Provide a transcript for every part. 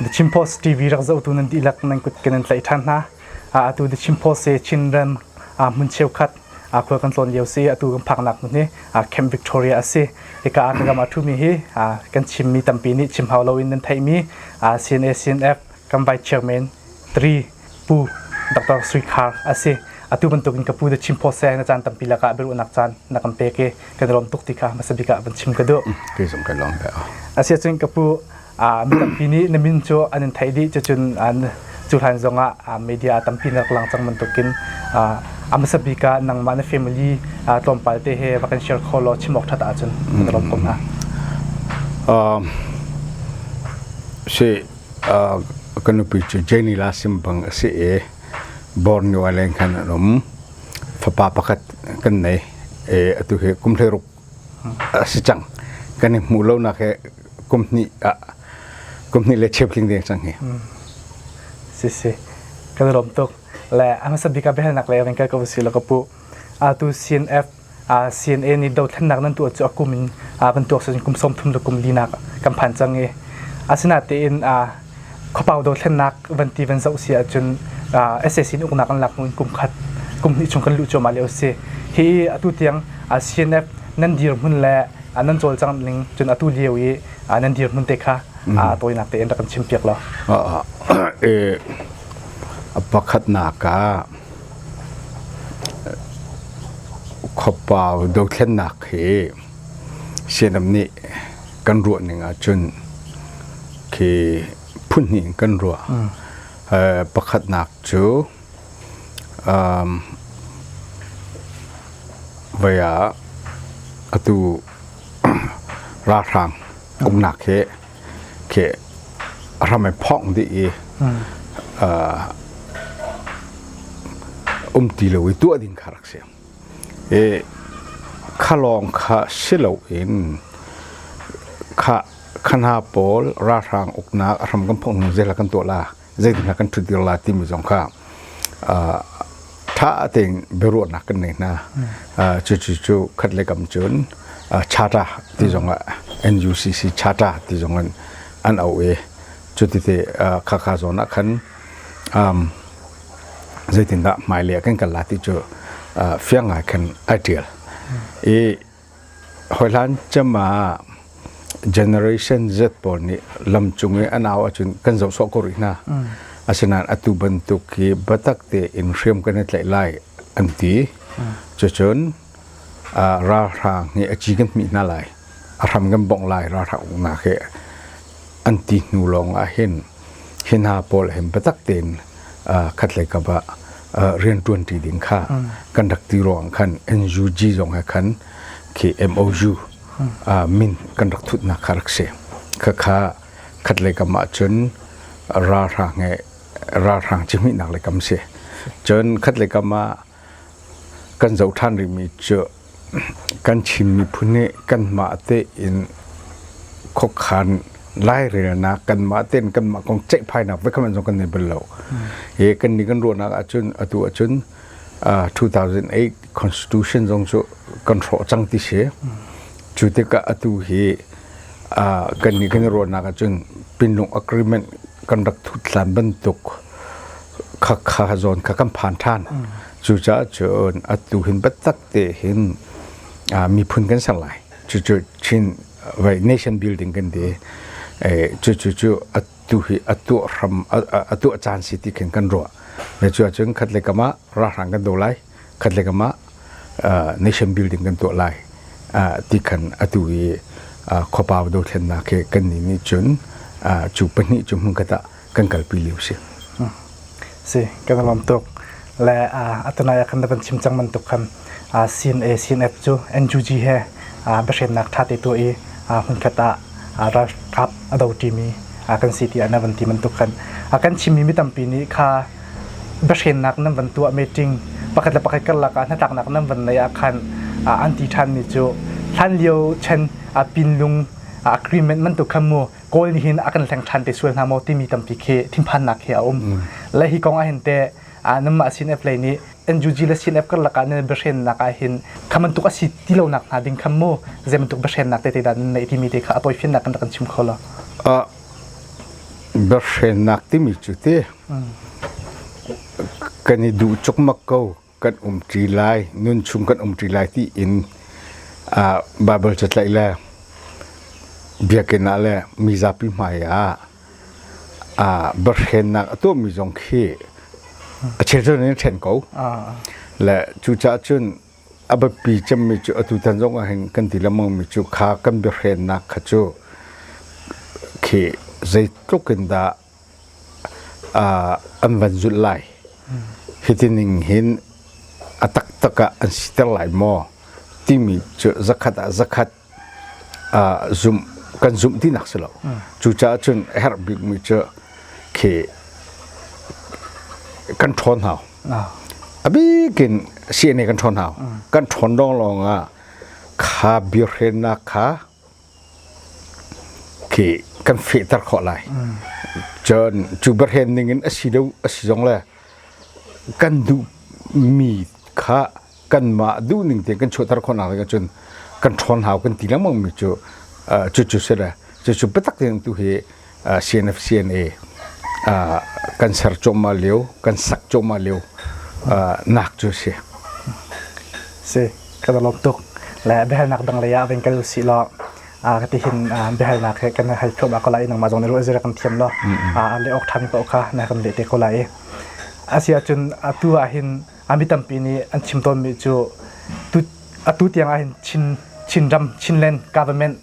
The Chin Post TV rak zohtu nan dihlak nan kut kan in tlaih ṭhan hna. Atu The Chin Post he Chinram hmun cheukhat khua kan tlawn lio si atu kan phaknak hmun hi Camp Victoria a si. Hika ah kan ram a ṭhumi hi kan chimmi tampi nih chim hau loin nan theihmi CNA CNF kan Vice Chairman 3 Pu Dr. Sui Thar a si. Atu bantukin ka pu cu chim phaw seng a caan tampi lakah biaruahnak caan na kan pek i kan i lawm tuk ti kha hmasa bik ah van chim ka duh. Kei zong kan lawm ve. Asiahcun ka pu mi tampi nih na min cu an in theih dih cucun cu hlan zongah media a tampi na rak lang cang bantukin a hmasa bik ah nangmah na family tlawmpal te he va kan share kho law chim awk ṭhat ahcun na lawm ko hna. Si ka nupi cu Jenila sim bang a si i Borneo ah leng khan an um. Fapa pakhat kan nei i atu hi kum hleiruk a si cang. Kan i hmuh lonak hi kum hnih ah kum hnih le cheuhling deng cang hi. Si si kan lawm tuk le a hmasa bika behalnak le kan kal ko si lo ka pu atu CNF CNA nih dothlennak nan tuah cu a kum in kan tuak sawin kum sawmthum le kum linak kan phan cang i asinatein khuapau dothlennak van ti van zoh si ahcun SAC nih uknak an lak hnu in kum khat kum hnih chung kan luh cuahmah lio a si hi atu tiang CNF nan dirhmun le nan cawlcang ning cun atu lio i nan dirhmun te kha tawinak te in rak kan chim piak lo pakhatnak ah Khuapa dothlennak hi Sianam nih kan ruah ning ahcun khi phun hnih in kan ruah. Pakhatnak cu voi ah atu ralhrang uknak hi khi a hram i phawng dih i um ti lo i tuah ding kha rak si. I kha lawng kha si lo in kha hna pawl ralhrang uknak a hram kan phawng hnu zeilah kan tuah la zeitindah kan ṭhut la timi zong kha ṭha tein biaruahnak kan nei hna cucu cu khat le kam cun charter ti zongah NUCC charter ti zongin an auh i cutite khakha zawn ah khan zeitindah hmailei ah kan kal la ti cu fiang ngai khan ai ṭial i Hawihlan cem ah generation Z pawl nih lam cung i a nau ahcun kan zoh sawh ko rih hna. Mm. Asinain atu bantuk hi biatak tein hriam kan i tlaih lai an ti. Mm. Cucun uh, ralhrang hi a ci kan hmih hna lai. A hram kan bongh lai ralhrang uknak hi an ti hnu lawngah hin hi hna pawl hin biatak tein khatlei kap ah rian ṭuanṭi ding kha kan rak ti ruangah khan NUG zong he khan khi MOU min kan rak thutnak kha rak si khakha khatlei kam ah cun ralhrang he ralhrang cihmihnak lei kam si cun khatlei kam ah kan zoh ṭhan rihmi cu kan Chin miphun nih kanmah tein khuakhan lairelnak kanmah tein kanmah kong ceihphainak vekhamh an zong kan nei bal lo. Hi kan nih kan ruahnak ahcun atu ahcun uh, 2008 Constitution zong cu kan hrawh cang ti si. Cu tikah atu hi uh, kan nih kan ruahnak ahcun pinlung agreement kan rak thut hlan bantuk khakha zawn kha kan phan ṭhan cucaah cun atu hin biatak te hin miphun kan ser lai cucu chin right nation building kan ti cucu cu atu hi a tuah hram a tuah caan si ti khin kan ruah me cu cun khat le kamah ralhrang kan do lai khat le kamah nation building kan tuah lai ti khan atu i khopau do thlennak khi kan ni nih cun cu pahnih cu hmun khat ah kan kalpi lio si si kan lawm tuk le atanai ah kan van chim cang man tuk khan sin a sin f cu NUG he biahremnak ṭha te tuah i hmunkhat ah ralkap a do ṭimi kan si tiah na van ti man tuk khan kan chimmi mi tampi nih kha biahremnak nan van tuah meeting pakhat le pakhat karlak ah hnatlaknak nan van nei ah khan an ti ṭhanmi cu hlan lio chen pinlung agreement man tuk khan mu Kawl nih hin a kan hleng ṭhan te sual hna maw timi tampi khi thinphannak hi a um. Le hi kong ah hin te nanmah CNF lei nih NUG le CNF karlak ah nan biahrennak ah hin kha bantuk a si ti lonak hnga ding khan mu zei bantuk biahrennak tete dah nan neih timi te kha a poifinnak in rak kan chim kho lo. biahrennak timi cu te kan i duh chukmak ko. kan um ṭi lai nun chung kan um ṭi lai ti in uh, Bible catlaih le biakinn ah le mi zapi hmai ah uh, barhennak a tuahmi zong khi a chezon in ṭhen ko le cucaah cun a biapi cemmi cu atu tan zong ah hin kan ti lengmangmi cu kha kan biahrennak kha cu khi zeitluk in dah an van zulh lai. Hiti ning hin a taktak ah an siter lai maw timi cu zakhat ah zakhat zumh kan zumh ti nak si lo. Cucaah cun a herh bikmi cu khi kan ṭhawn hau. A bikin CNA kan ṭhawn hau. Kan ṭhawn lawng lawng ah kha biahrennak kha khi kan fehter khawh lai. Cun cu berhen ningin a si deuh a si zong le kan duhmi kha kanmah duhning te kan chuahter khawhnak ding ahcun kan ṭhawn hau kan ti lengmangmi cu cucu si le cucu biatak ding tu hi CNFCNA kan ser cuahmah lio kan sak cuahmah lio nak cu si. Si ka lawm tuk le biahalnak dang lei ah ven kal si lo ka ti hin biahalnak he kan hal thluam ko lai nangmah zong ne ruah zira kan thiam lo a le ok than ko kha na kan le te ko lai asia chun atu ah hin ami tampi ni an chim ton mi cu tu atu tiang ah hin chin chin ram chinland government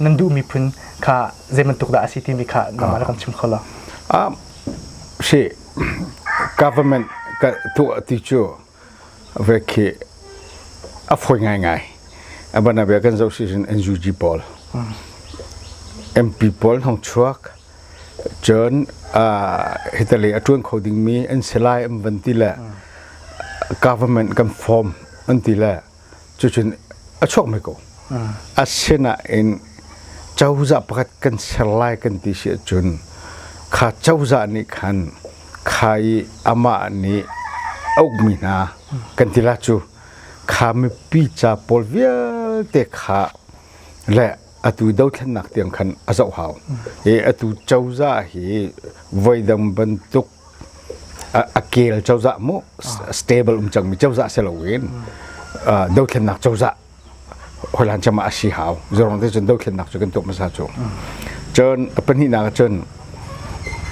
nan duh miphun kha zei bantuk dah a si timi kha nangmah rak kan chim kho lo. Um, si government ka tuah ti cu ve khi a foi ngai ngai abana be kan zo season NUG pawl MP pawl hong chuak chon hitale atuan kho ding mi an selai am van ti le government kan form an ti le cucun a chuakmi ko asinain cozah pakhat kan ser lai kan ti si ahcun kha cozah nih khan kha i amah nih a ukmi hna kan tila cu kha mipi ca pawl vialte kha le atu dothlennak tiang khan a zoh hau i atu cozah hi voidang bantuk a kel cozah mu stable um cangmi cozah si loin dothlennak cozah hoilan cam ah a si hau zorong te cun dothlennak cu kan tuah hmasa cu cun pahnihnak cun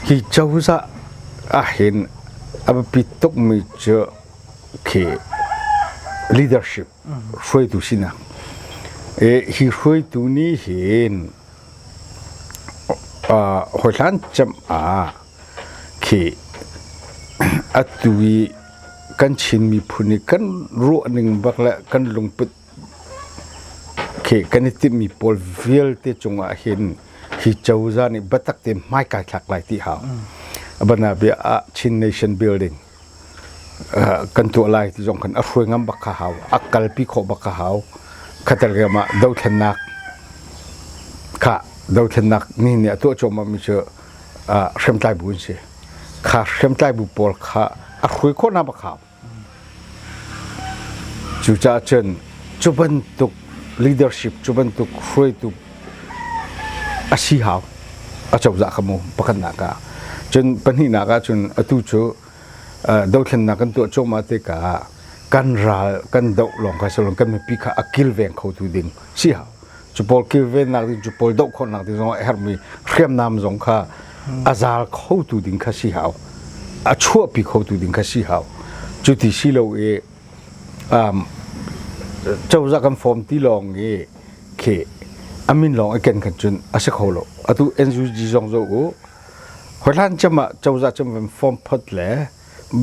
hi cozah ahhin a biapi tukmi cu khi leadership hruaitu sinak hi hruaitu nih hin hawi hlan cem ah khi atu i kan Chin miphun i kan ruah ning bak le kan lungput khi kan i timhmi pawl vialte cungah hin hi cozah nih biatak te hmai kai thlak lai ti hau. Abana bia ah Chin Nation Building kan tuah lai ti zong khan a hruai ngam bak ka hau a kalpi khawh bak ka hau khater riam ah dothlennak kha dothlennak ni ni a tuah cuahmah mi cu hriamtlai bu an si kha hriamtlai bu pawl kha a hruai khawh na bak hau cucaah cun cu bantuk leadership cu bantuk hruaitu A si hau. A cozah ka mu pakhatnak ah. Cun pahnihnak ah cun atu cu uh, dothlennak kan tuah cuahmah tikah ah kan ral kan doh lawng kha silo kan mipi kha a kilveng khotu ding si hau. Cu pawl kilvennak ding cu pawl doh khawhnak ding zong a herhmi hriamnam zong kha a zaal khotu ding kha si hau. A chuahpi khotu ding kha si hau. Cu ti si lo i um, cozah kan form ti lawng i khi amin lawng i ken kan cun a si kho lo atu NUG zong zo u hoihlan chama cozah cham kan form phot le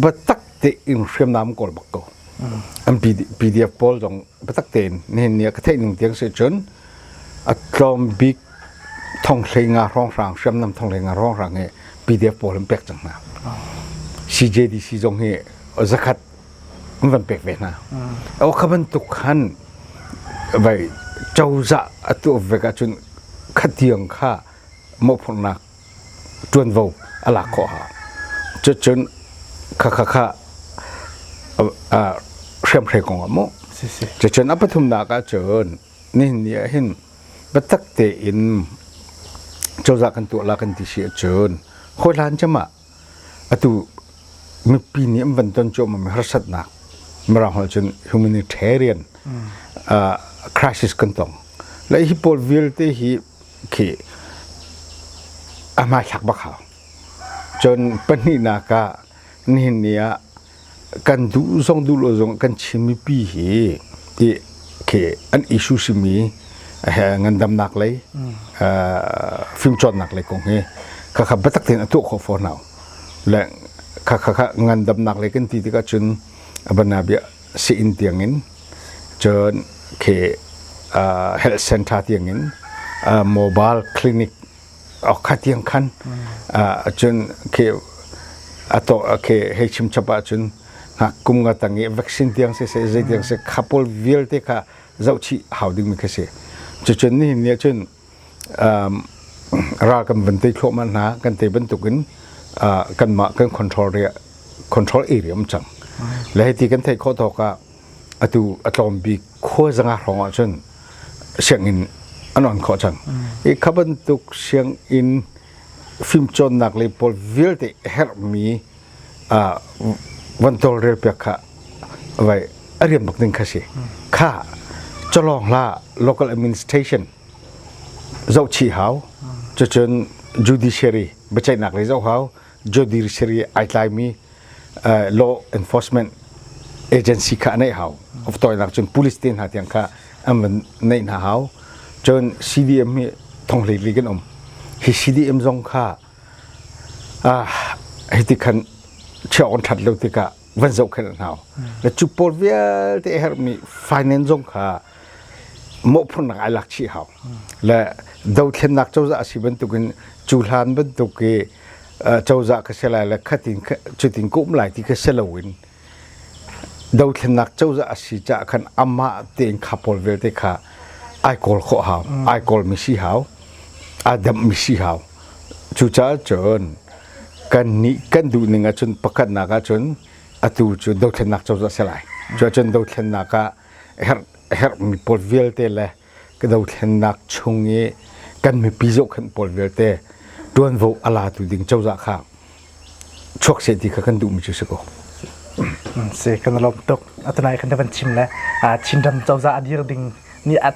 batak te in hriamnam kawl bak ko an PDF pawl zong batak te in nihin ni ka theih ning tiang se cun a tlawm bik thonghlenga hronghrang hriamnam thonghlenga hronghrang he PDF pawl an pek cang hna CJDC zong hi zakhat an van pek ve hna. A kha bantuk khan vai cozah a tuah ve ka cun khatiang kha mawhphurnak ṭuanvo a lak khawh ha. Cucun kha kha kha hriamhrei kong ah mu. Cucun a pathumnak ah cun nihin ni ah hin biatak tein cozah kan tuah la kan ti si ahcun hawi hlan cem ah Atu nupi nih an van ton cuahmahmi harsatnak Mirang holh cun humanitarian uh, crisis kan tong. La hi pawl vialte hi khi a hmaithlak bak hau. Cun pahnihnak ah nihin ni ah kan duh zong duh lo zong kan chim mipi hi ti khi an issue simi he ngandamnak lei fimcawnnak lei kong hi khakha biatak tein a tuah khawh fawn hau le khakha ngandamnak lei kan ti tikah cun abanabia si-inn tiangin cun khi health center tiangin mobile clinic okha tiang khan cun khi ato khi hei chim chap ah cun kum nga tang i vaccine tiang se se zei tiang se khapol vialte kha zoh chih hau ding mi kha si cucun ni ni cun ral kan van te thluahman hna kan te bantuk in kan mah kan control ria control area um cang le hei ti kan thei kho thawk ah atu a tlawm bik khuazang ah hrawng ahcun sianginn an on khawh cang i kha bantuk sianginn fimcawnnak lei pawl vialte herhmi van tawlrel piak kha vai a rian bak ding kha si kha cawlawng hla local administration zoh chih hau cucun judiciary biaceihnak lei zoh hau judiciary ai tlaimi uh, law enforcement agency kha nei hau of toinak cun police te hna tiang kha an van nei hna hau cun CDM hi thonglei li kan um hi CDM zong kha ah hiti khan cheon that lo tika van zohkhenh hna na cupor vialte a herhmi finance zong kha mawhphurnak ai lak chih hau le dothlennak cozah a si bantukin cu hlan bantuk i cozah ka si lai le khatin cutin ka um lai ti ka si loin dothlennak cozah a si caah khan amah tein khapol vialte kha ai kawl khawh hau ai kawlmi si hau ai damhmi si hau cucaah cun kan nih kan duh ning ahcun pakhatnak ahcun atu cu dothlennak cozah a si lai cu ahcun dothlennak ah herh herhmi pawl vialte le dothlennak chung i kan mipi zohkhenh pawl vialte ṭuanvo a latu ding cozah kha chuak seh ti kha kan duhmi cu si ko. si kan lawm tuk atunai kan van chim le chinram cozah a dir ding ni at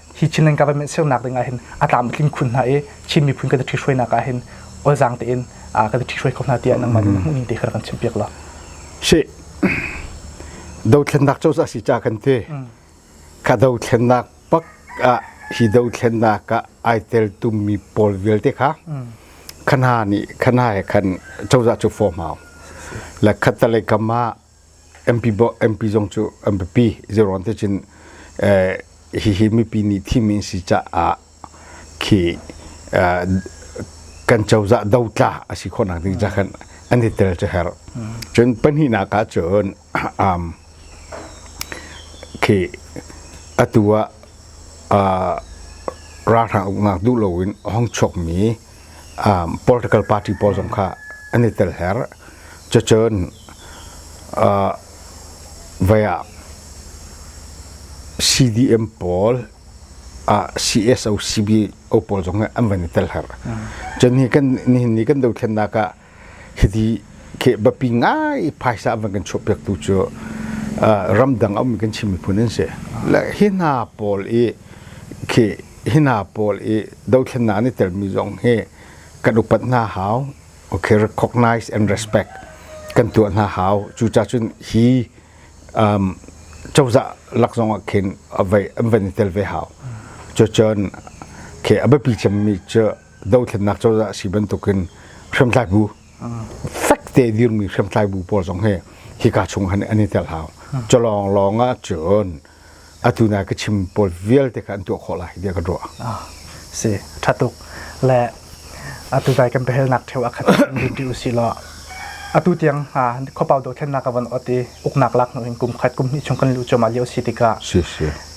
hi Chinland government sernak ding ah hin a tlam tling khun hna i Chin miphun kan thi hruainak ah hin olzang tein ka thi hruai ko hna tiah nangmah mm. hmuhning te kha kan chimpiak lo shi do thlennak cho sa si cha kan te mm. ka do thlennak pak a hi do thlennak ka ai tel tum mi pol vialte kha mm. khana ni khana he khan choza chu form hau la khatalai kama MP zong cu an biapi zeiruang te cun hihi mipi nih thimi an si caah khi kan cozah dotla a si khawhnak ding ca khan an i tel cu herh cun pahnihnak ah cun khi atu ah ralhrang uknak duh loin a hong chuakmi political party pawl zong kha an i tel her cucun vai ah CDM pawl ah CSO CBO pawl zong an van i tel her cun nihin ni kan dothlennak ah Hiti kehbapi ngai phaisa van kan chuahpiak tu cu ramdang a ummi kan Chin miphun an si. Le hi hna pawl i khi hi hna pawl i dothlennak an i telmi zong hi kan upat hna hau. Okay, recognize and respect kan tuah hna hau. Cu cacun hi um, cozah lak zong ah khin an van i tel ve hau. Cu cun, okay, a biapi cemmi cu dothlennak cozah a si bantukin hriamtlai bu fek te dirmi hriamtlai bu pawl zong hi hi ka chung han an i tel hau colong lawng ah cun atu na ka chim pawl vialte kha an tuah khawh lai tiah ka ruah si ṭha tuk le atu dai kan behelnak theo a khat rinti u si law atu tiang ha khopau dothlennak avan ot i uknak lak in kum khat kum hnih chung kan lu choma lio si tikah si si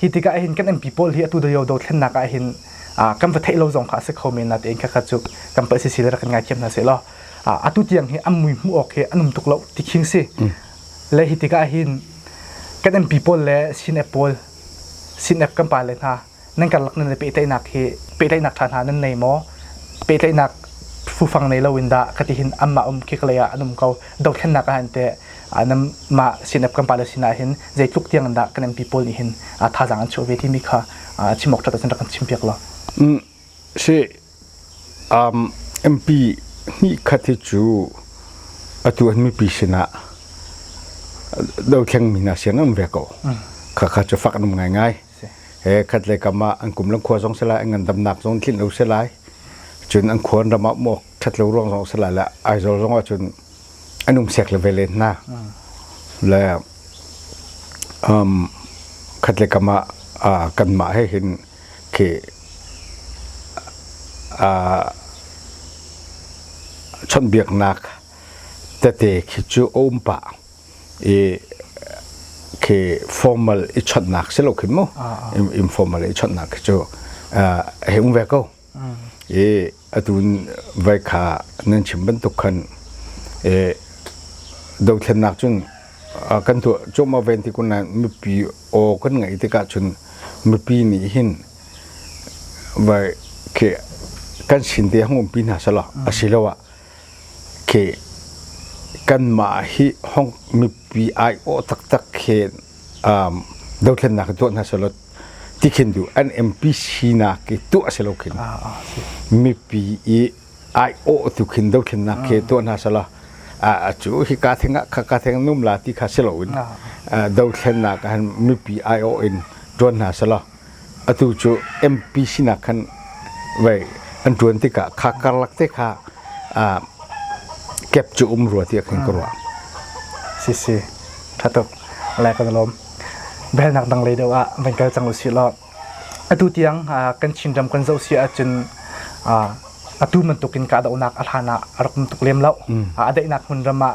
Hi tikah hin kan MP pawl hi atu Dayo dothlennak ah hin kan va theih lo zong kha a si kho men na tein kha kha cu kan pal si si le kan ngaithiam hna se law atu tiang hi an mui hmuh awk hi an um tuk lo ti khing si le hi tikah hin kan MP pawl le sinep pawl sinep kan pa le hna nan karlak nan le pehtlaihnak hi pehtlaihnak ṭha hna nan nei maw pehtlaihnak fufang nei lo in dah ka ti hin amma um khi kalei ah an um ko dothlennak ah an te mah CNF kan pale sin ahhin zeitluk tiang in dah kan MP pawl nih hin thazaang an chuah ve timi kha chim awk ṭhat kan chim piak law. si MP hnih khat hi cu atu an mipi sinah do thleng mi hna sian an um ve ko kha kha cu fak an um ngaingai he khat le kam ah an kum lang khua zong selai an ngandamnak zong tlin lo selai cun an khuan ram ah mok ṭhat lo ruang zong selai le Aizawl zong ah cun an um sek le ve len hna le um khat le kam ah uh, kanmah he hin khi uh, chonbiaknak tete khi cu om pa i khi formal i chonnak si lo khin mu informal i chonnak khi cu uh, he um ve ko I atu vai kha nan chim bantuk khan i dothlennak cun kan tuah cuahmah ven ti kun nain mipi aw kan ngaih tikah cun mipi nih hin vai khi kan sin te hang umpi hna selaw a si lo ah Okay, kanmah hi Hong mipi aiawh taktak khin um, dothlennak tuah hna selaw ti khin du an MPC nak i tuah selaw khin mipi i aiawh tu khin dothlennak ke tuah hna selaw a cu hi ka theng ka ka theng num la ti kha selo in dothlennak han mipi aiawh in tuan hna selaw atu cu MP sinak khan vei an ṭuan tikah kha karlak te kha kep cu um rua tiah kan ka ruah. Si si, ṭha tuk, lai kan lawm. Belnak dang lei deuh ah van kal cang usih law. Atu tiang kan Chinram kan zoh si ahcun atu bantukin kahdohnak a hlan ah a rak um tuk lem lo. A daihnak hmun ram ah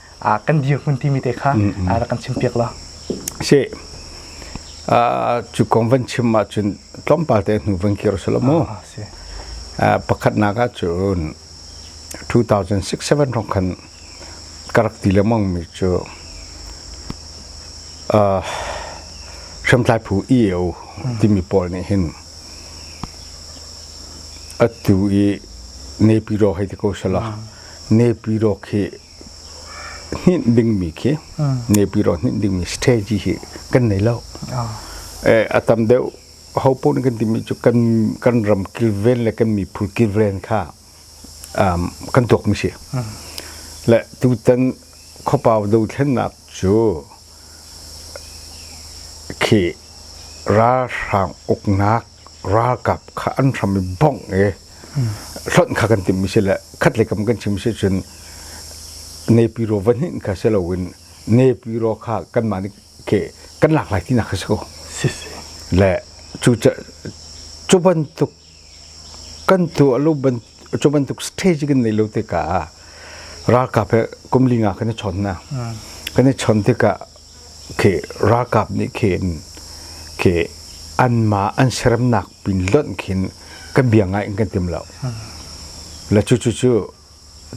ah kan dirhmun timi te kha rak kan chim piak la si cu kong van chim ahcun tlawmpal te hnu van kir sala mu pakhatnak ah cun 2006-7 rong khan ka rak ti le mong mi cu hriamtlai phu EAO timi pawl nih hin atu i nepi ro hei ti ko sala nepi ro khi hninh dingmi khi nepi ro hninh dingmi strategy hi kan nei lo a tam deuh ho pun kan timi cu kan kan ram kilven le kan miphun kilven kha kan tuakmi si le tutan khopau do thlennak cu khi ralhrang uknak ralkap kha an hram i bongh i hlonh kha kan timmi si le khatlei kam kan chim si cun nepiro vanhin kha si loin nepiro kha kanmah nih ke kan lak lai tinak kha si ko le cu cu bantuk kan tu a lo cu bantuk stage kan nei lo te ka ralkap he kumlinga kan i chon na kan i chon tikah khi ralkap nih khin khi anmah an seremnak pin lonh khin ka bia ngai in kan tim lo la cu cu cu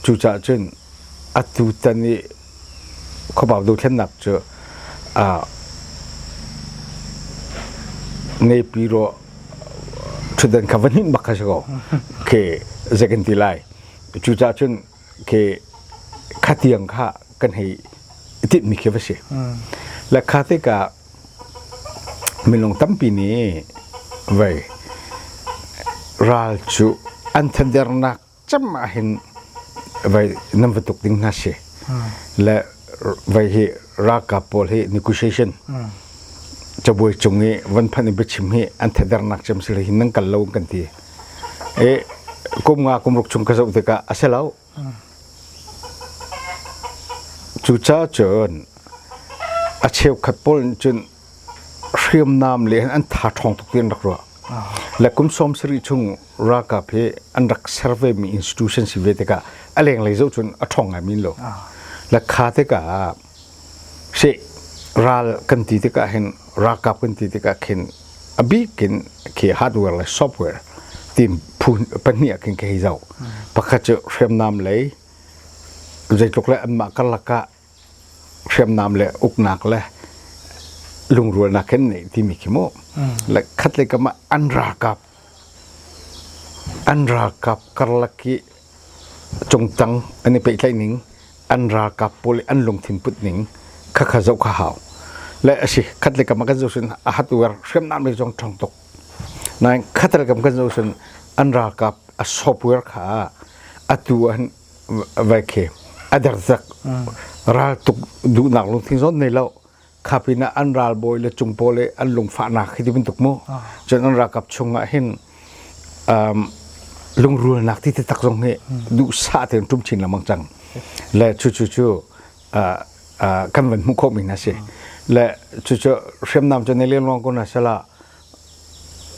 cu cah cun atu tan i khuabau dothlennak cu neipi ro ṭhutdan kha va hninh bak kha si ko khi zei kan ti lai cu cah cun ke kha tiang kha kan hei itinh mi khi va si la kha te ka minung tampi nih vei ral cu an thandernak cam ah hin vei nam va tuk ding hna si le vei hi ralkap pawl hi negotiation cabuai cung i van phanh i biachim hi an thadernak cem si hi nang kal lo kan ti i kum nga kum ruk chung ka zoh tikah a si lo. Cucaah cun a cheukhat pawl nih cun hriamnam le an tha ṭhawng tuk tiin rak ruah. Le kum sawm sarih chung ralkap hi an rak ser vemi institution si ve tikah a lenglei zoh cun a ṭhawng ngaimi lo. Le kha tikah Hrih ral kan ti tikah hin ralkap kan ti tikah khin a bik in khi hardware le software team phu pahnih ah khin ka hei zoh. Pakhat cu hriamnam lei zeitluk le anmah karlak ah hriamnam le uknak le lungrualnak hin nei timi khi mu. Le khatlei kam ah an ralkap An ralkap karlak hi a cung cang an i pehtlaih ning, an ralkap pawl i an lungthin put ning kha kha zoh kha hau. Le a si, khat le kam ah kan zoh cun a hat uar hriamnam le zong ṭhang tuk. Nain khat le kam kan zoh cun an ralkap a sawp uar kha atu an vai khi a derdzak. Raltuk duhnak lungthin zong nei lo, kha pin ah an ralbawi le cung pawl i an lungfahnak hi ti bantuk mu cun an rakap chung ah hin lungrualnak ti te tak zong hi duhsah tein ṭum chin lengmang cang le cu cu cu kan van hmuh khawhmi hna si le cucu hriamnam cu nei lengluang ko hna sela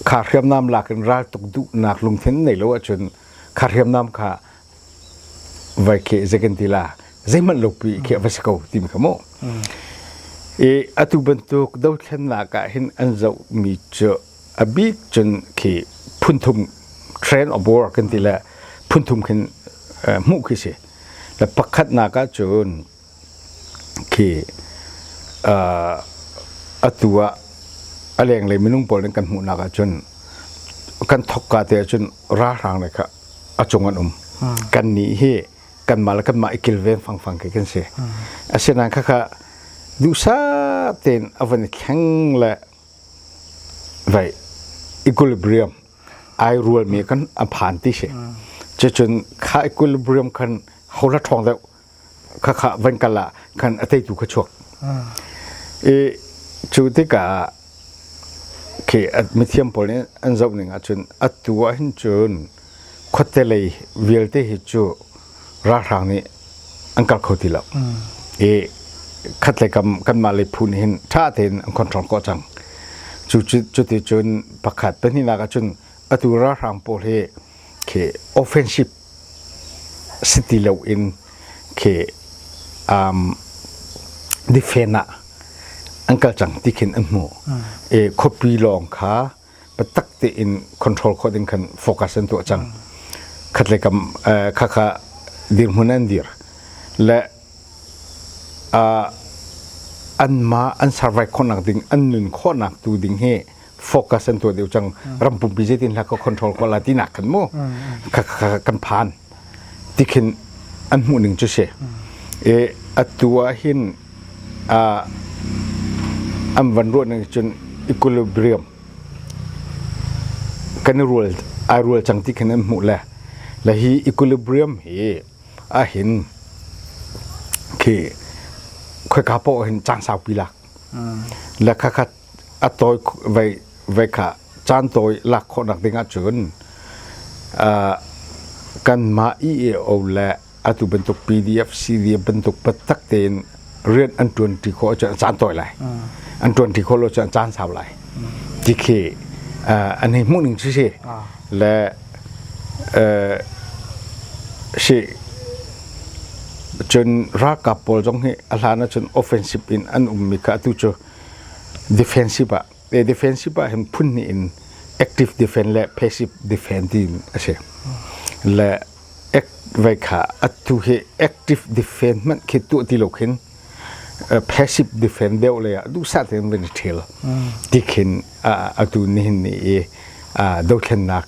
kha hriamnam lak in ral tuk duhnak lungthin nei lo ahcun kha hriamnam kha vai kheh zei kan ti la zeihmanh lopi khi va si ko timi kha mu i atu bantuk dothlennak ah hin an zoh mi cu a bit cun khi phunthum train of war kan ti le phunthum khin hmuh khi si le pakhatnak ah cun khi uh, atu ah a lenglei minung pawl nih kan hmuhnak ah cun kan thokka te ah cun ralhrang le kha a cung an um hmm. kan nih hi kanmah le kanmah i kilven fangfang khi kan si hmm. asinain khakha duhsat tein avan i thleng le vai equilibrium ai rual mi kan aphan ti si hmm. checun kha equilibrium khan hola thong deuh khakha van kal ah khan a teitu kha chuak i cu tikah khi mithiam pawl nih an zoh ning ahcun atu ah hin cun khuatte lei vialte hi cu ralhrang nih an kal kho ti lo i khatlei kam kanmah lei phu nih hin ṭha tein an control kawh cang cu cuti cun pakhat pahnihnak ah cun atu ralhrang pawl hi khi offensive Si ti loin khi um defend ah an kal cang ti khin an hmuh. I khuapi lawng kha biatak tein control khawh ding khan focus an tuah cang. Khatle kam eh, khakha dirhmun an dir le uh, an ma an survive khawnak ding an nun khawnak tu ding hi focus an tuah deuh cang ram pumpi zeitin hla ka control ko la tinak kan mu kan phan tikhin an hmuh ning cu si e atu ah hin an van ruah ning cun equilibrium kan rual ai rual cang tikhin an hmuh le la hi equilibrium hi a hin khi khoi ka po hin chang sau pi la la kha kha a tawi voi kha caan tawi lak khawhnak ding ahcun kanmah EAO le atu bantuk PDF CDF bantuk biatak tein rian an ṭuanṭi khawh ahcun a caan tawi lai an ṭuanṭi khawh lo ahcun a caan sau lai ti khi an hei hmuh ning cu si le si cun ralkap pawl zong hi a hlan ahcun offensive in an ummi kha atu cu defensive ah te defensive ah hin phun hnih in active defense le passive defense tiin a si le act vai kha atu hi active defense man khi tu ti lo khin passive defense deuh le ah duhsah tein van i ṭhil ti khin atu nihin ni i dothlennak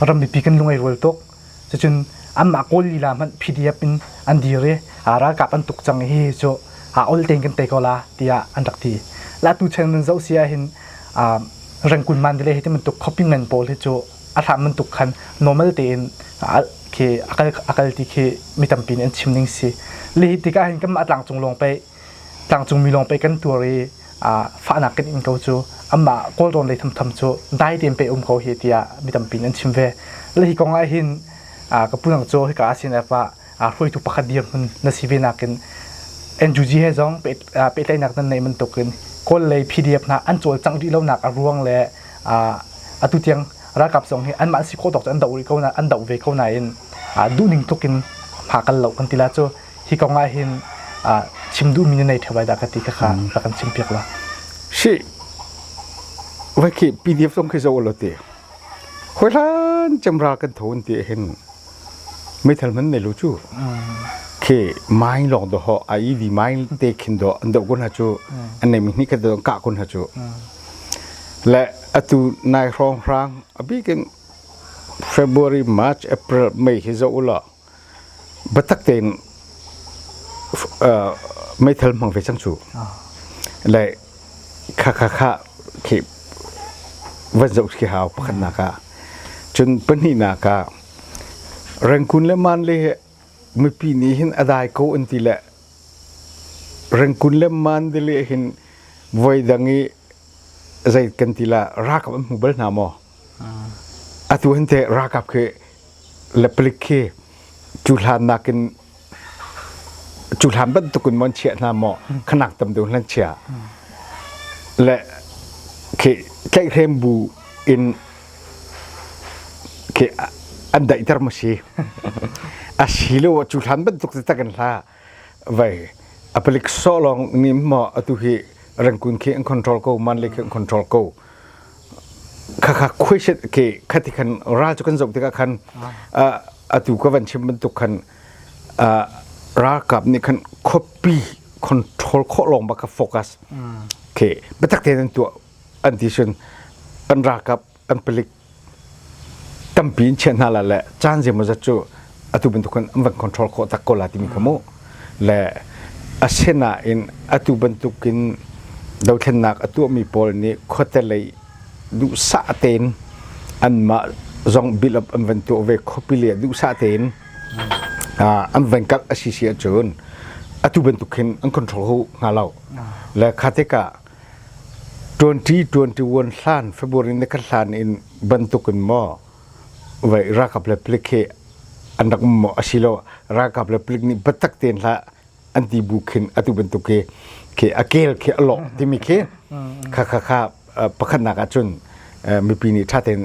ram mipi kan lung ai rual tuk cucun anmah kawl lila hmanh pdf in an dir i ralkap an tuk cang hi cu ol tein kan tei ko la tiah an rak ti latu cheng nan zoh si ahhin rengkun man vile hi ti bantuk copy ngan pawl hi cu a hram bantuk khan normal tein khi a kal ti khi mi tampi nih an chim ning si li hi tikah hin kan mah tlang cung lawng pei Tlangcungmi lawng pei kan tuar i fahnak kan in ko cu anmah kawlrawn lei thomthom cu dai tein pei um ko hi tiah mi tampi nih an chim ve. Le hi kong ahhin ka pu nang cu hika ACNF ah hruaitu pakhat dirhmun na si ve nakin NUG he zong pehtlaihnak nan neih bantuk in Kawl lei PDF hna an cawlcangh rih lonak a ruang le atu tiang ralkap zong hi anmah si khawh tawk cu an doh ve ko nain duhning tluk in hma kan loh kan ti la cu hi kong ah hin chim duhmi na nei ṭheo ai dah ka ti kha rak kan chim piak la si vai khi pdf zong khi zo lo ti hoi hlan chemra kan thon ti hin meithal man nei lo chu ke mai long do ho ai di mai te khin do an do gun ha chu an nei mi ni ka do ka kun ha chu le atu nai hrong hrang abi ken February March April May hi zo ulo Batak tein meithal hmang ve cang cu. Le kha kha kha khi van zoh khi hau pakhatnak ah cun pahnihnak ah Rangkun le Man le hi mipi nih hin a dai ko an ti le Rangkun le Man te le hin voi dang i zei kan ti la rakap an hmu bal hna maw? Atu hin teh ralkap khi le palik khi cu hlan nakin cu hlan bantuk in mon chiah hna maw khanak tam deuh hlan chia le khi tlaihhrem bu in khi an daihter ma si a si lo cu hlan bantuk si tak in hla vai apalik so long mi mo atu hi rangkun khi an control ko man le khi an control ko kha kha question ke khati khan ral chu kan zok tika khan atu ka van chim ban tuk khan ral kap ni khan copy control kho long ba ka focus ke betak te nan tu anti sun an rakap kan palik tampi in chiah hna la le caan zeimawzat cu atu bantuk khan an van control khawh tak ko la timi ka mu le asinain atu bantukin dothlennak a tuahmi pawl nih khuate lei duhsah tein anmah zong bill up an van tuah ve khopi le duhsah tein an van kak a si si ahcun atu bantuk hin an control hu hnga lo le kha tikah 2021 hlan February na kan hlan in bantuk in maw vai ralkap le palik hi an rak um maw asilo ralkap le palik nih batak tein hlah an ti bu khin atu bantuk khi khi a kel khi a lawh timi khi kha kha kha pakhatnak ah cun mipi nih ṭha tein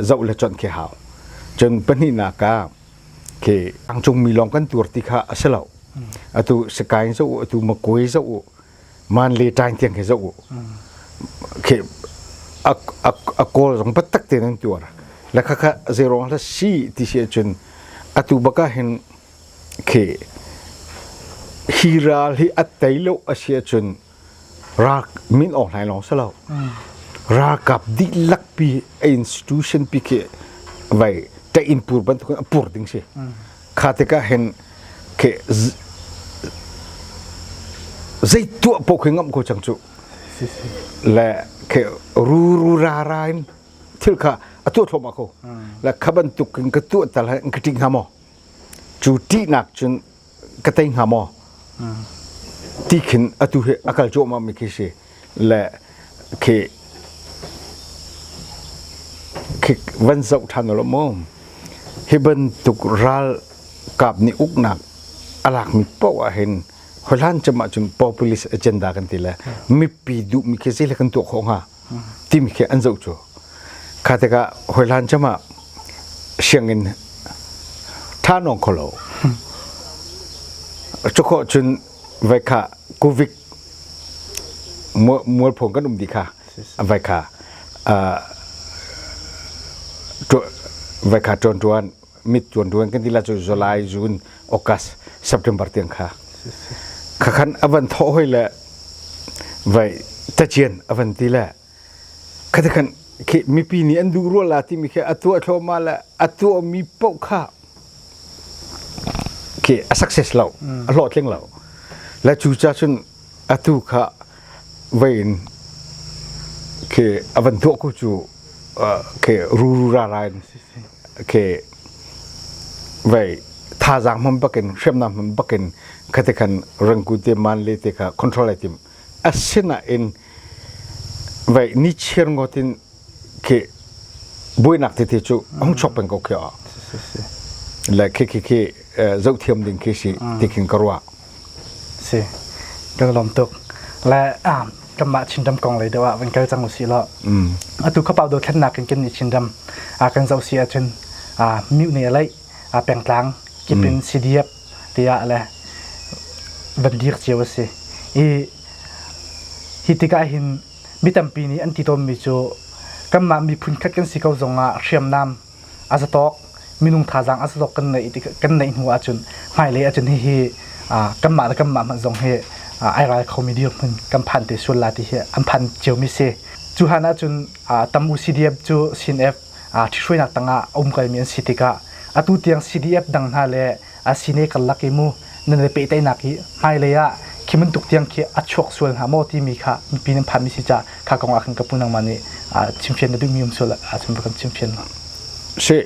zoh le chonh khi hau cun pahnihnak ka khi angcungmi lawng kan tuar ti kha a si lo atu sakain zo atu makoi zo man le ṭaing tiang khi zoh u khi a a kawl zong batak te nan tuar la kha kha zeirong hla si ti si ahcun atu baka hin khi hi ral hi at tei lo a si ahcun ra min awk hlai long sa lo ra kap dik lak pi a institution pi khi vai ta in pur bantuk a pur ding si Kha tikah hin khi zei tuah paoh khi ngamh ko cang cu le khi ruru rara in thil kha a tuah thluahmah ko le kha bantuk in ka tuah tal in ka ṭih hnga maw cu ṭihnak cun ka tei hnga maw ti khin atu hi a kal cuahmahmi khi si le khi khi van zoh ṭhan u mu hi bantuk ral kap nih uknak a lakmi paoh ah hin hohlan cem ah cun populist agenda kan ti le mipi duhmi khi zei le kan tuah khawh hnga timi khi an zoh cu kha tikah hoihlan cem ah sianginn ṭha nawng kho lo cukhawh cun vai kha covid mualpho kan um di kha vai kha vai kha tuan tuan mit tuan tuan kan tila chu July June August September tiang kha kha khan avan tho hoi le vai tachien avan ti le kha khan khi mipi nih an duh rual la ti mi khi atu athloma le atu mi poh kha khi a success lo a hlawhtling lo la cu cha chun atu kha vein khi a van tuah ku chu khi ru ra ra in khi vei thazang hmun bakin hriamnam hmun bakin khate khan rangku te man le te kha control ai tim asina in vei ni chiar ngotin khi buainak tete cu hung chok peng ko khi a le khi khi khi zoh thiam ding khi si ti khin ka ruah si ka lom tuk le kanmah chindam kong lei deuh ah van kal cang u si law atu khapau do thlen nak in kan ni chindam kan zoh si ahcun miu ne lei pengtlang kip in CDF tiah le van dir cio a si i hi tikah hin Mi tampi nih an ti tawnmi cu kanmah miphun khat kan si ko zongah hriamnam a za tawk minung thazaang a za tawk kan neih kan neih hnu ahcun hmailei ahcun hihi kanmah le kanmah hmanh zong hi ai ral khomi dirhmun kan phan te sual la ti hi an phan ciomi si cu han ahcun tam u CDF cu CNF ṭhithruainak tangah a um kalmi an si tikah atu tiang CDF dang hna le asine karlak i mu nan i pehteinak hi hmailei ah khi bantuk tiang khi a chuak sual hnga maw timi kha mipi nan phanmi si ca kha kong ah khan ka pu nangmah nih chimfian na duhmi um sual ah cun kan chimfian hna si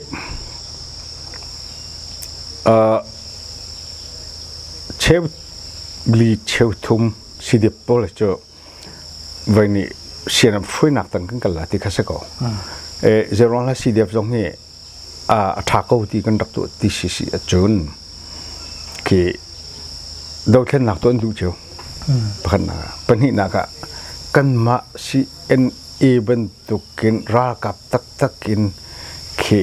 cheu li cheu thum si dip pawl cu voi ni sian am fuinak tang kan kala ti kha se ko e zeron la si dep zong hi a ṭha ko ti kan rak tuah ti si si ahcun khi dothlennak tu an duh cio pakhatnak ah pahnihnak ah kanmah CNA bantukin ralkap taktak in khi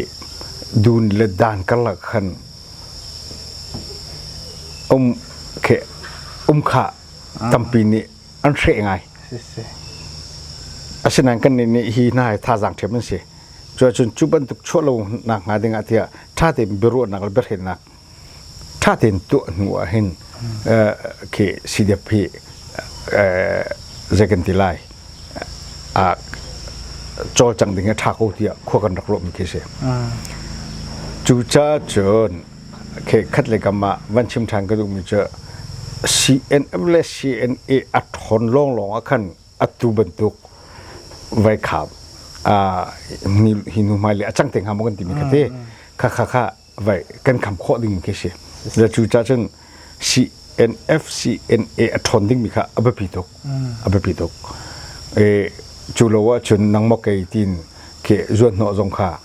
dun le dan karlak khan um khi um khah tampi nih an hreh ngai. Asinain kannih nih hi hna hi thazaang ṭhiam an si. Cuacun cu bantuk chuahlonak hnga dingah tiah ṭha tein biaruahnak le biahrennak ṭha tein tuah hnu ah hin khi CDF hi zei kan ti lai aa cawlcang ding a ṭha ko tiah khua kan rak ruahmi khi a si. Cucaah cun khat le kam ah van chim ṭhan ka duhmi cu CNM le CNA a ṭhawn lawnglawng ah khan atu bantuk vaikham hi hnuhmai le a cang te hnga maw kan timi ka ti kha kha kha vai kan kham khawh ding khi si cu caah cun CNF CNA a ṭhawn dingmi kha a biapi tuk a biapi tuk e cu lo ahcun nangmaw kei tiin ke zuanhnawh zong kha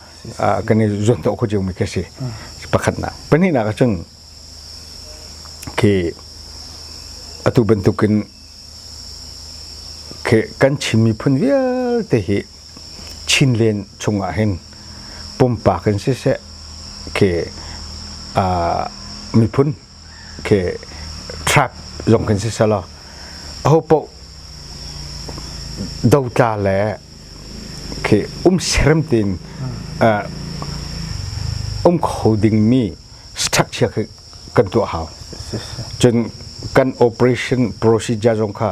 kan i zuanhnawh kho ciomi khi si pakhatnak pahnihnak ahcun ke atu bantukin ke kan Chin miphun vialte hi Chinlen chungah hin pumpak in siseh ke uh, miphun ke track zong kan si selo ho po dotla le ke um serem tin uh, um kho ding mi structure kan tu hau cun kan operation procedure zong kha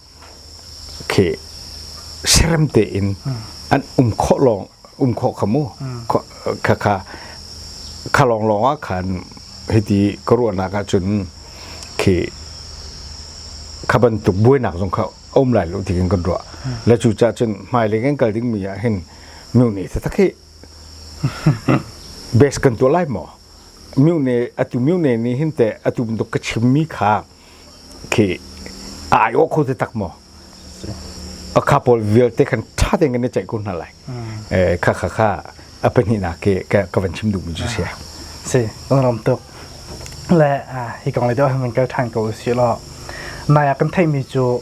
khi serem tein an um khawh lawng um khawh kha mu kha kha kha lawng lawng ah khan hiti ka ruahnak ah cun khi kha bantuk buainak zong kha um lai lo ti kan kan ruah la cu ca cun hmai le kan kal ding mi ah hin miu ne ta tak hi base kan tuah lai maw miu ne atu miu ne nih hin te atu bantuk ka chim mi kha khi a ai aw kho te tak maw a kha pawl vialte khan ṭha tein kan i ceih ko hna lai eh kha kha kha a pahnih nak ke ka van chim duh mi cu sia si nong ram tuk le hi kong le deuh han kan ṭhan ko si lo nai a kan thei mi cu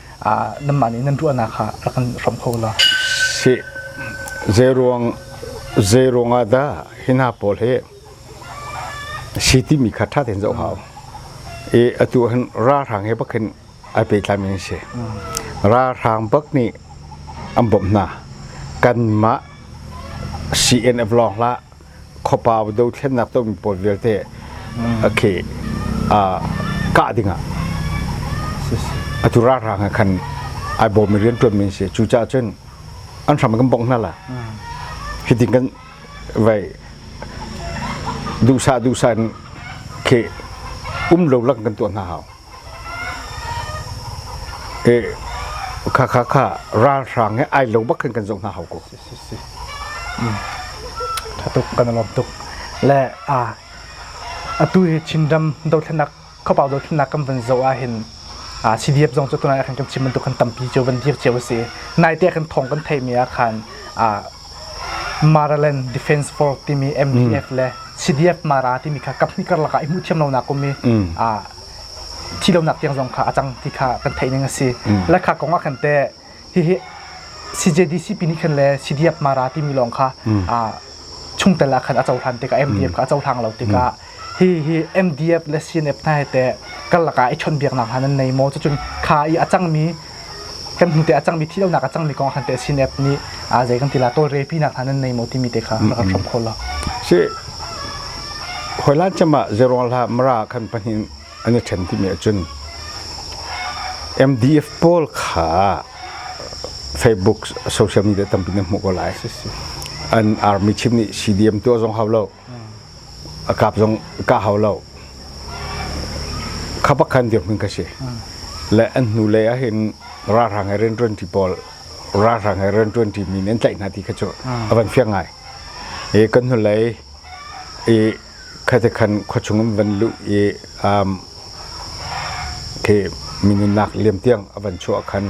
nanmah nih nan ruahnak kha rak kan hram kho la si zeiruang zeiruang ah dah hi hna pawl hi si timi kha ṭha tein zoh hau i atu hin ralhrang he bak hin ai pehtlai mi si ralhrang bak nih an bawmh hna kanmah CNF lawng hlah khuapa dothlennak tawmi pawl vialte a khi kah dingah atu ralhrang he khan ai bawmmi rianṭuanmi an si cucaah cun an hram kan bongh hna la hitin kan vai duhsah duhsah in khi um lo lak kan tuah hna hau Kha kha kha ralhrang he ai lo bak khin kan zoh hna hau ko. Tha tuk kan lom tuk. Le atu hi Chinram dothlenak khopau dothlenak kan van zo ah hin CDF zong cu tunai khan kan chim bantuk khan tampi cu van dir cio a si. Nai te khan thong kan thei mi ah khan Maryland Defense Force timi MDF le CDF Mara timi kha kaphnih karlak ah i hmuh thiam lonak um i thi lonak tiang zong kha a cang ti kha kan theih ning a si. Le kha kong ah khan te hihi CJDCP nih khan le CDF Mara timi lawng kha chungtel ah khan a cohlan tikah MDF kha a cohlang lo tikah hihi MDF le CNF hna he teh kar lakah i chonbiaknak hna nan nei maw cucun kha i a cangmi kan hnu te a cangmi thi lonak a cangmi kong khan teh CNF nih aa zei kan tila tawlre pinak hna nan nei maw timi te kha rak kan hram khol lo si hoila chama zeruang la mara khan pahnin an i ṭhen timi ahcun MDF pawl kha Facebook social media tampi na hmuh ko lai an army chief nih CDM tu a zong hau lo a kap zong ka hau lo kha pakhan dirhmun ka si le an hnu lei ah hin ralhrang he rian ṭuanṭi pawl ralhrang he rian ṭuanṭi mi nih an tlaih hna ti kha cu a van fiang ngai i kan hnulei i khaite khan khuachung in van luh i um khi mi nunnak liam tiang a van chuah khan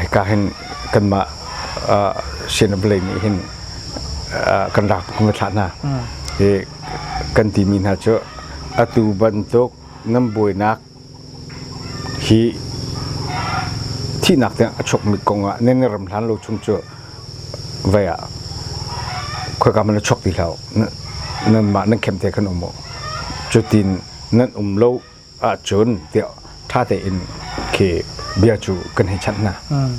hika hin kanmah sianabelei nih hin kan rak kan thlah hna i kan timi hna cu atu bantuk nan buainak hi thihnak tiang a chuakmi kong ah nan ram hlan lo chung cu vai ah khoika man a chuak ti hlau nan mah nan khem te kan um cu tin nan um lo ahcun tiah ṭha tein khi bia cu kan hei chanh hna. Mm.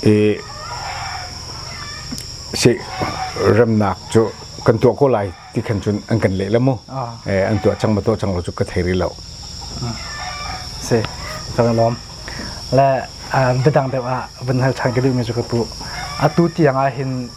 I si remnak cu kan tuah ko lai ti khan cun an kan leh le mu. Ah. Eh, an tuah cang ma tuah cang lo cu ka thei rih lo. si ka van lawm le bidang deuh ah van hal ṭhan ka duhmi cu ka pu atu tiang ah hin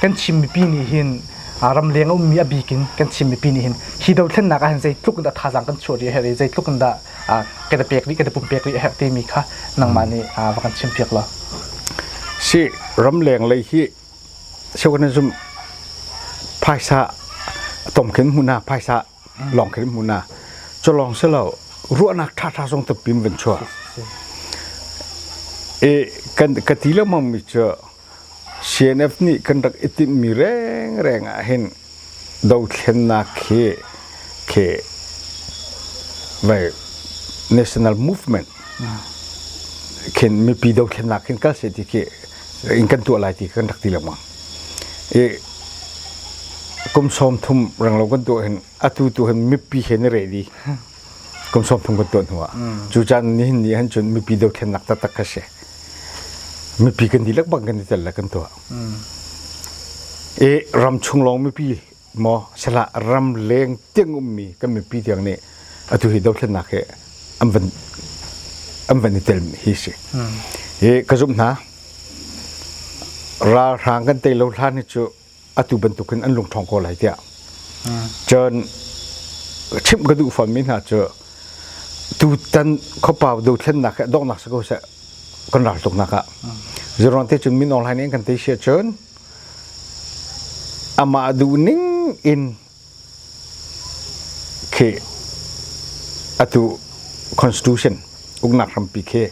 kan Chin mipi nih hin ramleng a ummi a bik in kan Chin mipi nih hin hi dothlennak ah hin zeitluk in dah thazaang kan chuah rih a herh i zeitluk in dah kan i pek rih kan i pumpek rih a herh timi kha nangmah nih va kan chim piak law. Si ramleng lei hi organism phaisa tom khin hmu na phaisa lawng khin hmu na cu lawng si lo ruahnak ṭhaṭha zong tapim van chuah i kan ka ti lengmang mi cu CNF nih kan rak i timhmi rengreng ah hin dothlennak khi khi vai national movement khin mipi dothlennak khin kal seh ti khi in kan tuah lai ti kan rak ti lengmang i kum sawm thum ranglo kan tuah hin atu tu hin mipi he na reh dih kum sawm thum kan tuan hnu ah cu caan nihin ni han cun mipi dothlennak taktak kha si mipi kan dihlak bang kan ditel le kan tuah e ram chung lawng mipi maw sala ram leng tiang ummi kan mipi tiang nih atu hi dothlennak hi an van an van i tel hi si e ka zumh hna ralhrang kan tei lo hlan hi cu atu bantukin an lung ṭhawng ko lai tiah cun chimh ka duh fammi hna cu tutan khuapau dothlennak he donghnak si ko seh kan raltuknak ah zeruang te cun min online in kan tei sia cun amah duhning in khi atu constitution uknak hrampi khi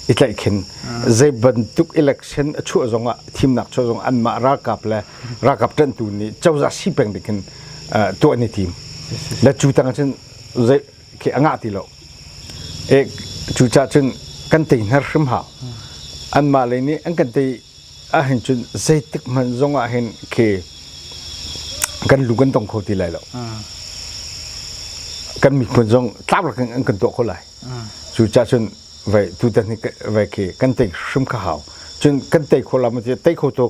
i tlaih khin zei bantuk election a chuah zong ah thimnak chuah zong an mah ralkap le ralkap ṭantu nih cozah si peng dik in tuah ni tim na cu tang cun zei khi a ngah ti lo e cu cha cun kan tei hnar hrim ha an mah lei nih an kan tei a hin cun zeitik hmanh zong ah hin khi kan lu kan tong kho ti lai lo kan miphun zong tlak in an kan tuah kho lai cu cha cun vai tutan hi vai khi kan tei hrim kha hau cun kan tei kho la ma ti tei kho to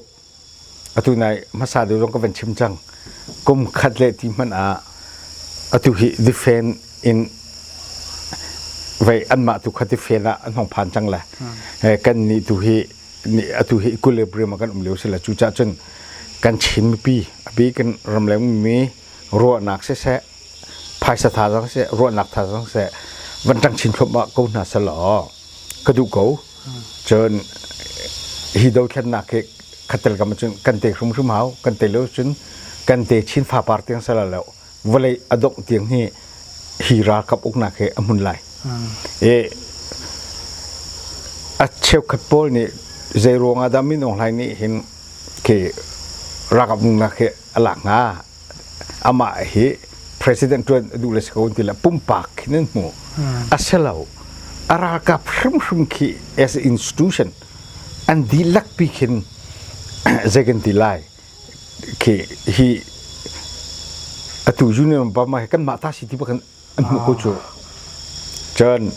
atu nai hmasa deuh zong ka van chim cang kum khat le ti hmanh ah atu hi difen in vei anmah tu kha difen ah an hong phan cang le kan nih tu hi atu hi equilibrium ah kan um lio si la cu cah cun kan chin mipi abi kan ram le mi ruahnak se se phaisa tha zong se ruahnak tha zong se van tang chin thlop ma ko hna sal aw ka du ko Cun hi dothlennak hi khatel kam cun kan te hrimhrim hau kan te lo cun kan te chin fa par tiang sala lo vawlei a dongh tiang hi hi ralkap uknak hi a hmun lai i a cheukhat pawl nih zei ruangah dah min aung hlaing nih hin khi ralkap nunnak hi a lak hnga amah hi president ṭuan a duh le si ko an ti le pumpak khi nan hmu a si lo a ralkap hrimhrim khi as a institution an dihlak pi khin zei kan ti lai khi hi atu union bama hi kan mah ta si ti bakhan an hmu ko cu cun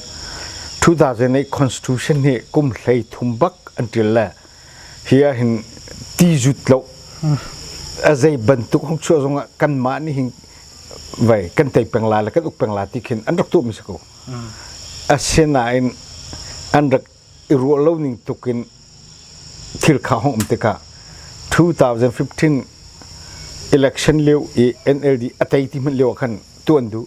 2008 constitution hi kum hlei thum bak an ṭil le hi ah hin ti zut lo a zei bantuk hong chuah zong ah kanmah nih hin vai kan tei peng la le kan uk peng la ti khin an rak tuh mi si ko asinain an rak i ruah lo ning tuk in thil kha hong um tikah 2015 election lio i NLD a tei ti hmanh lio ah khan tuan duh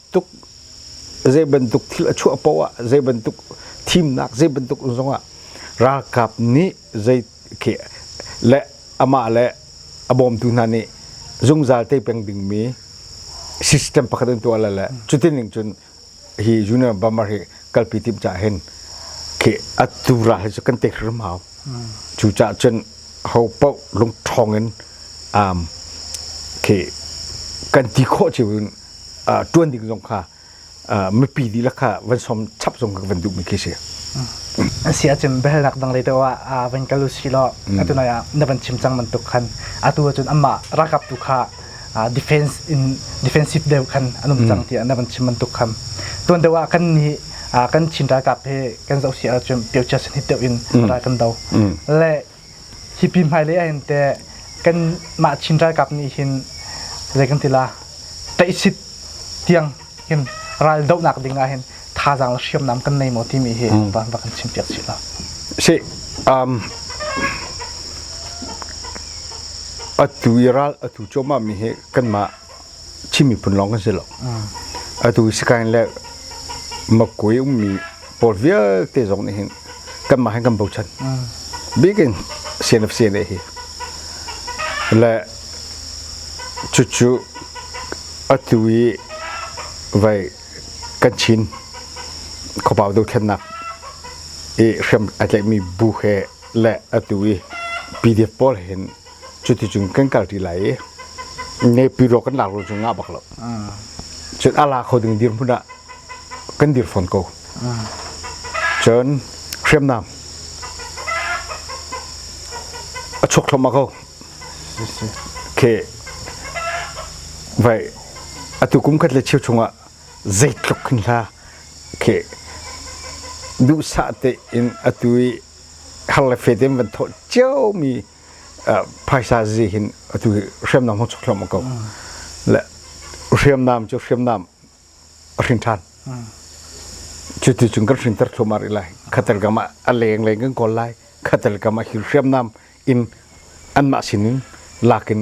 tuk zeibantuk thil a chuah paoh ah zeibantuk thimnak zeibantuk zongah ralkap nih zei khi le amah le a bawmtu hna nih zungzal te peng dingmi system pakhat in tuah le le cutin ning cun hi Union Bamar hi kalpi timh ca hin khi a tura hi cu kan tek hrim hau cu cah cun ho paoh lungṭhong in um khi kan ti khawh cio in ṭuan ding zong kha mipi dihlak kha van sawm chap zong kan van duhmi khi si. Asi ahcun biahalnak dang lei deuh ah ah van kal usi law atu noi ah na van chim cang bantuk khan atu ahcun amah ralkap tu kha defense in defensive deuh khan an um cang tiah na van chim bantuk khan tuan deuh ah kan nih kan Chin ralkap he kan zoh si ahcun piochia sanhit deuh in ral kan do le Hi pi hmailei ah hin teh kanmah Chin ralkap nih hin zei kan ti la tlaihsit tiang hin raldohnak ding ah hin thazaang le hriamnam kan nei maw timi hi va, va kan chim piak chih la. Si, um, atu i ral atu chomah mi hi kanmah Chin miphun lawng kan si lo. Atu Sikain le Makgui ummi pawl vialte zong nih hin kanmah hin kan bochan. Bikin CNFC ne hi. Le cucu atu i vai kan Chin khuapau dothlennak i hriam ai tlaihmi bu he le atu i PDF pawl hin cuticun kan kal ṭi lai i ngepi rawk kan lak rawk cu ngah bak lo cun a la kho ding dir hmun ah kan dir fawn ko cun hriamnam a chuak thluamah ko okay vai atu kum khat le cheu chungah zeitluk hin hla okay duhsah tein atu i har le fe te van thawh cio mi phaisa zi hin atu hriamnam hong chuk hlom ko le hriamnam cu hriamnam a hrin ṭhan cu ti cun kan hrin ter thluam ar lai khatel kam ah a leng leng kan kawl lai khatel kam ah hi hriamnam in anmah sin in lak in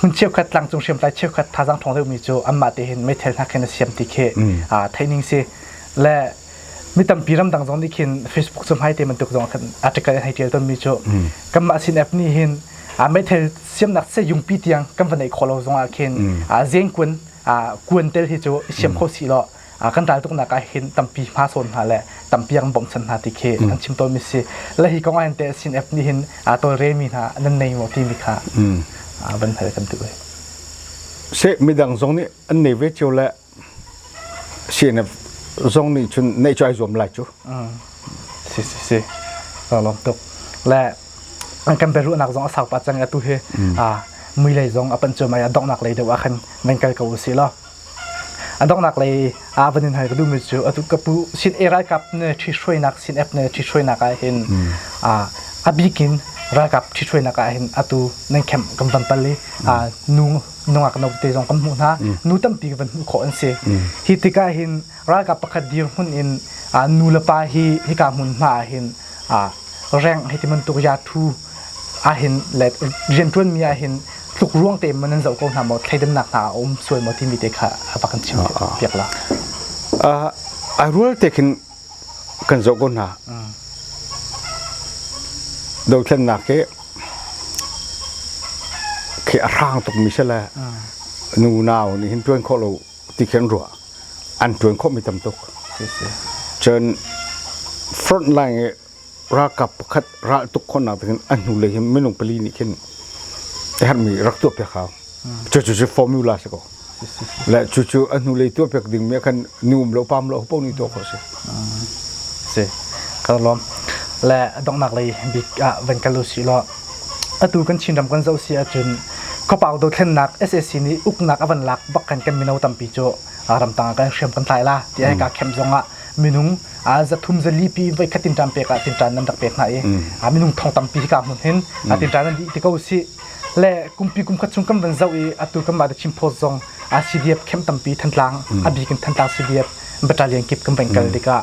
hmun cheukhat tlangcung hriamtlai cheukhat thazaang ṭhawng deuhmi cu anmah te hin meithal hna khin a siam ti khi theihning si le mi tampi ramdang zong nih khin Facebook cu hmai te bantuk zong khan article hei ṭial tonmi cu kanmah sin app nih hin meithal siamnak se yungpi tiang kan va neih khawh lo zongah khin zengkuan kuan tel hi cu i siam kho si law kan ral tuknak ah hin tampi hma sawn hna le tampi an bawmchan hna ti khi kan chim tawn mi si le hi kong ahhin te sin app nih hin aa tolremi hna nan nei maw timi kha van hal kan duh se midang zong nih an nei ve cio le CNF zong nih cun neih chai zuam lai cu si si si lawm tuk le kan beruhnak zong a sau pa cang atu hi mui lei zong a pan cuai mai a donghnak lei deuh ah khan men kal ko u si law A donghnak lei ah van in hal ka duhmi cu atu ka pu sin i ralkap ne ṭhithruainak sin app ne ṭhithruainak ah hin aa a bikin ralkap ṭhithruainak ah hin atu nan camp kan van pal i aa nu nungak no te zong kan hmuh hna nu tampi kan van hmuh khawh an si. Hi tikah hin Ralkap pakhat dirhmun in nulepa hi hika hmun hma ahhin reng hei ti bantuk yathu ahhin le rianṭuanmi ahhin tlukruang te in nan zoh ko hna maw thleidannak hna a um sual maw timi te kha a va kan chim piak la. A rual te khin kan zoh ko hna. Dothlennak ke khi a hrang tuk mi se le nu nau nih hin ṭuan khawh lo ti khin ruah an tuan khawh mi tam tuk cun front line i ralkap pakhat ral tuk khonnak tiin a hnu lei hin minung pali nih khin a herhmi rak tuah piak hau cu cu cu formula si ko le cu cu a hnu lei tuah piak ding mi khan ni um lo pam lo hupau ni tuah khawh si si ka lawm le donghnak lei bik ah van kal u si law atu kan Chinram kan zoh si ahcun khuapau dothlennak SAC nih uknak a van lak bak khan kan mino tampi cu ramtang ah kan hriam kan tlai la ti ai kaa khem zong ah minung zathum zalipi voikhat tin ṭan pek ah tinṭan nan rak pek hna i minung thong tampi hi kaa hmun hin tinṭan nan dih ti ko si le kumpi kumkhat chung kan van zoh i atu kan mah Chin Post zong CDF khem tampi Thantlang a bik in Thantlang CDF battalion kip kan van kal tikah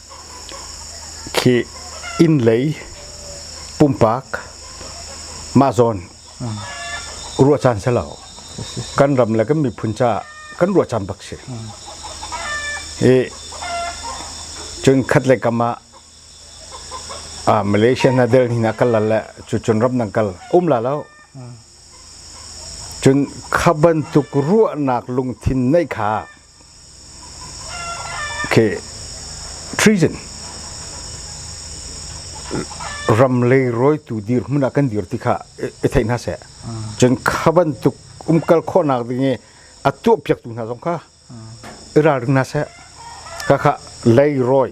khi innlei pumpak mah zawn ruah caan si lo kan ram le kan miphun caah kan ruah caan bak si i cun khat le kam ah a Malaysia na del ni na kal le cu cun ram nang kal um la lo cun kha bantuk ruahnak lungthin neih kha Okay, treason ram le roitu dirhmun ah kan dir ti kha i thei hna seh cun kha bantuk umkal khawhnak ding i a tuah piaktu hna zong kha i ralring hna seh ka kha lei roi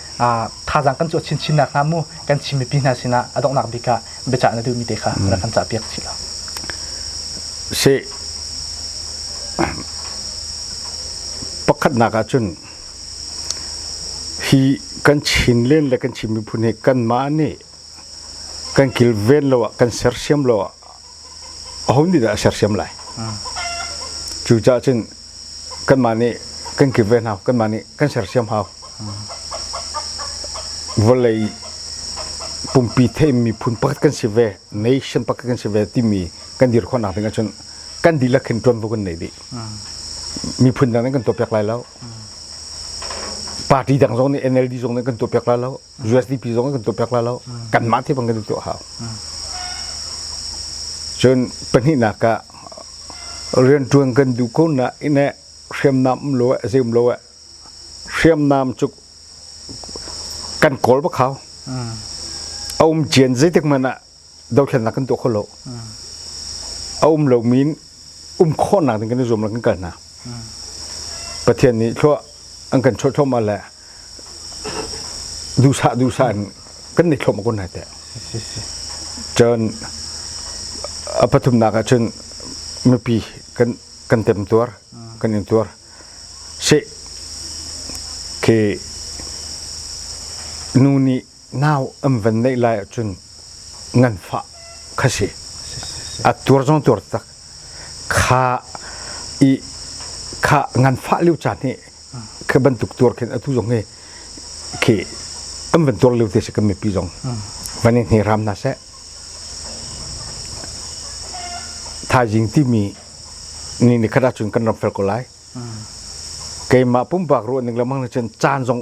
thazaang kan cuah chinchinnak hna mu kan Chin mipi hna sinah a donghnak bik ah biacah na duhmi te kha rak kan cahpiak chih law. Si pakhatnak ah cun hi kan Chin len le kan Chin miphun hi kanmah nih kan kilven lo ah kan sersiam lo ah aho nih dah a sersiam lai? Cucaah cun kanmah nih kan kip ve hna, kanmah nih kan sersiam hau. Vawlei pumpi theih miphun pakhat kan si ve, nation pakhat kan si ve timi kan dir khawhnak ding ahcun kan dihlak khin ṭuanvo kan nei dih. Miphun dang nih kan tuahpiak lai lo. Party dang zong nih NLD zong nih kan tuahpiak lai lo. USDP zong kan tuah piak la lo kanmah te bang kan tuah hau cun pahnihnak ah riantuan kan duh ko na ine hriamnam lo eh zeum lo eh hriamnam cuk kan kawl ba khao aum cian zeitik man ah dothlennak kan tuah kho lo a um lomi um khawhnak ding kan i zuam lo kan kal hna pathian nih thlua an kan chawt thloma le duhsah duhsah in kan ni thloma kun hai teh cun a pathumnak ah cun mipi kan kan tem tuar kan in tuar se ke nu nih nau an van neih lai ahcun ngan fah kha si a tuar zong tuar tak kha i kha ngan fah lio caan hi kha bantuk tuar khin atu zong hi khi an van tuar lio te si kan mipi zong van in ram na se thaizing timi ni ni khata chun kan ram fel ko lai keimah pumpak ruah ning lamang na cun caan zong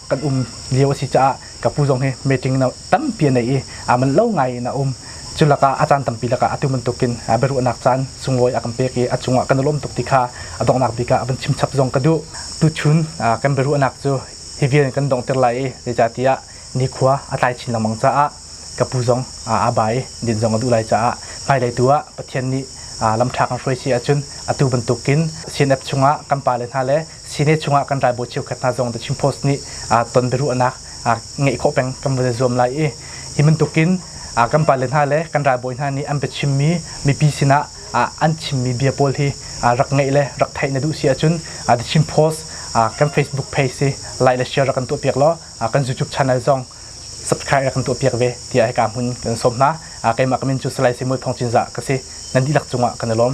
kan um lio a si caah ka pu zong hi meeting na tampi a nei i a man lo ngai in a um cu lakah a caan tampi lakah atu bantukin biaruahnak caan sunglawi a kan pek i a cungah kan i lawm tuk ti kha a donghnak bik ah van chimchap zong ka duh tuchun kan biaruahnak cu hi vian kan dongter lai i zeicatiah nikhua a tlai chin lengmang caah ka pu zong a bai din zong a duh lai caah hmailei tu ah Pathian nih lamṭha kan hruai si ahcun atu bantukin CNF chungah kan pale hna le Senate chungah kan ralbawi cheukhat hna zong The Chin Post nih ton biaruahnak ngeih khawh peng kan van i zuam lai i hi bantukin kan pale hna le kan ralbawi hna nih an biachimmi mipi sinah an chimmi bia pawl hi rak ngeih le rak theih na duh si ahcun The Chin Post kan Facebook page si like le share rak kan tuahpiak law kan YouTube channel zong subscribe rak kan tuahpiak ve tiah hika hmun kan sawm hna keimah kamin cu salai simui phongcin za ka si nan dihlak cungah kan i lawm